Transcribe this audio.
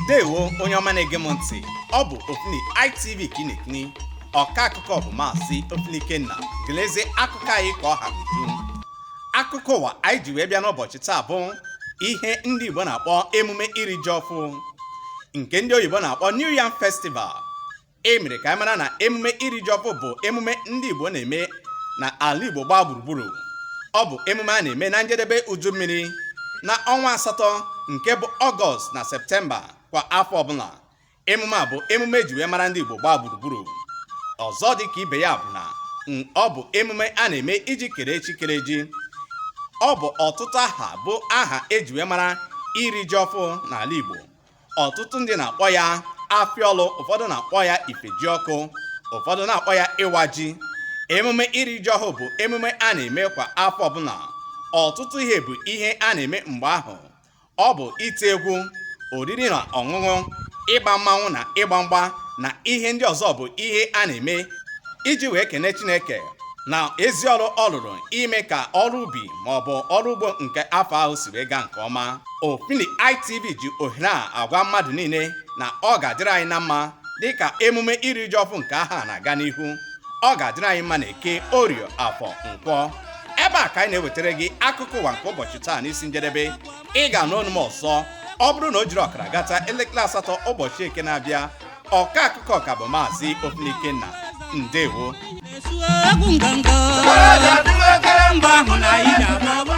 ndewo onye ọma na-ege m ntị ọ bụ ofili itv ka ị na-ekiri ọka akụkọ bụ maazị ofili ikenna gelezie akụkọ anyị ka ọ ha uju akụkọ ụwa anyị ji wee bịa n'ụbọchị taa bụ ihe ndị igbo na-akpọ emume iri ji ọfụ nke ndị oyibo na-akpọ new yam festival e mere ka anyị mara na emume iri ji ọfụ bụ emume ndị Igbo na-eme na ala Igbo gbaa gburugburu ọ bụ emume a na-eme na njedebe uju mmiri na ọnwa asatọ nke bụ ọgọst na septemba kwa afọ ọbụla emume a bụ emume eji wee mara ndị Igbo gbaa gburugburu ọzọ dị ka ibe ya bụ na ọ bụ emume a na-eme iji kele chi kere ji ọ bụ ọtụtụ aha bụ aha eji wee mara iri ji ọfụ n'ala Igbo ọtụtụ ndị na-akpọ ya afịaọlụ ụfọdụ na-akpọ ya ifejiọkụ ụfọdụ na-akpọ ya ịwa ji emume iri ji ọhụụ bụ emume a na-eme kwa afọ ọbụla ọtụtụ ihe bụ ihe a na-eme mgbe ahụ ọ bụ ite egwu oriri na ọṅụṅụ ịgba mmanwụ na ịgba mgba na ihe ndị ọzọ bụ ihe a na-eme iji wee kene Chineke na ezi ọrụ ọ rụrụ ime ka ọrụ ubi ma ọ bụ ọrụ ugbo nke afọ ahụ si wee gaa nke ọma Ofili ITV ji ohere a agwa mmadụ niile na ọ ga-adịrị anyị na mma dịka emume iri ji ọfụ nke ahọ a na-aga n'ihu ọ ga-adịrị anyị mma na eke orie afọ nkwọ ebe a ka anyị na-ewetara gị akụkọ ụwa nke ụbọchị taa n'isi njedebe ị ga-anụ olu m ọzọ ọ bụrụ na o jiri ọkara gata elekere asatọ ụbọchị eke na-abịa ọka akụkọ ka bụ maazị Ofili Ikenna ndewo egwu nganga mba ahụ na anyị ga-agba